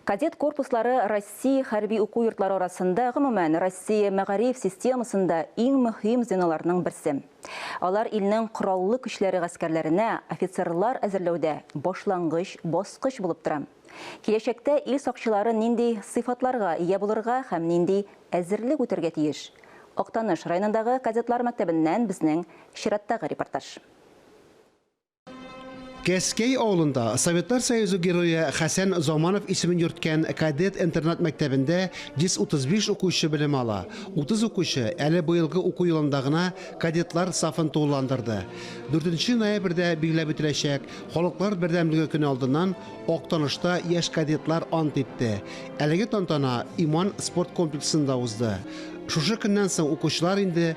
Кадет корпуслары Россия хәрби уку йортлары арасында, гомумән, Россия мәгариф системасында иң мөһим звеноларның берсе. Алар илнең кораллы көчләре гаскәрләренә офицерлар әзерләүдә башлангыч баскыч булып тора. Киләчәктә ил сакчылары нинди сыйфатларга ия булырга һәм нинди әзерлек үтәргә тиеш? Актаныш районындагы кадетлар мәктәбеннән безнең чираттагы репортаж. Кәскәй авылында Советлар Союзы герое Хәсән Заманов исемен йөрткән кадет интернат мәктәбендә 135 укучы белем ала. 30 укучы әле быелгы уку елында гына кадетлар сафын тулыландырды. 4 ноябрьдә билгеләп үтеләчәк Халыклар бердәмлеге көне алдыннан Актанышта яшь кадетлар ант итте. Әлеге тантана Иман спорт комплексында узды. Шушы көннән соң укучылар инде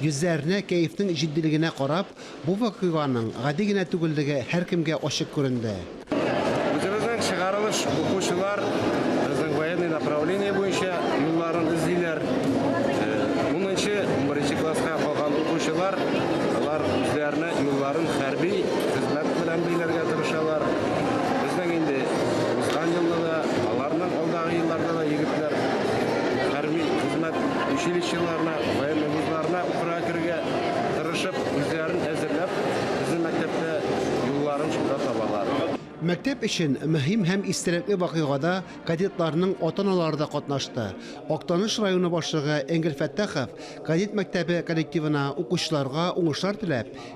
Йөзләренә, кәефнең җитдилегенә карап, бу вакыйганың гади генә түгеллеге һәркемгә ачык күренде. Үзебезнең чыгарылыш укучылар безнең военный направление буенча юлларын эзлиләр. Унынчы, унберенче класска калган укучылар, алар үзләренә юлларын хәрби хезмәт белән бәйләргә тырышалар. Безнең инде узган елны да, аларның алдагы елларда да егетләр хәрби хезмәт училищеларына, Военный вузларына укырга керергә тырышып, үзләрен әзерләп, безнең мәктәптә юлларын шунда табалар. Мәктәп өчен мөһим һәм истәлекле вакыйгада кадетларның ата-аналары да катнашты. Актаныш районы башлыгы Энгель Фәттахов кадет мәктәбе коллективына, укучыларга уңышлар теләп,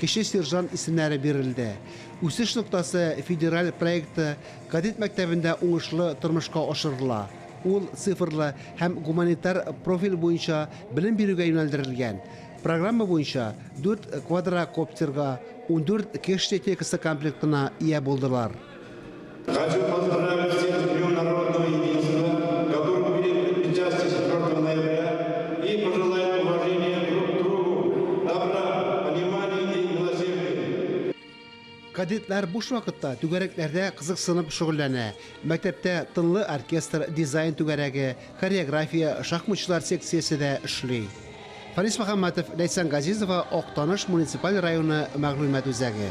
Кече сержант исемнәре бирелде. Үсеш ноктасы федераль проекты кадет мәктәбендә уңышлы тормышка ашырыла. Ул цифрлы һәм гуманитар профиль буенча белем бирүгә юнәлдерелгән. Программа буенча дүрт квадрокоптерга, ундүрт кеш техникасы комплектына ия булдылар. Кадетлар буш вакытта түгәрәкләрдә кызыксынып шөгыльләнә. Мәктәптә тынлы оркестр, дизайн түгәрәге, хореография, шахматчылар секциясе дә эшли. Фарис Мөхәммәтов, Ләйсән Газизова, Актаныш муниципаль районы мәгълүмат үзәге.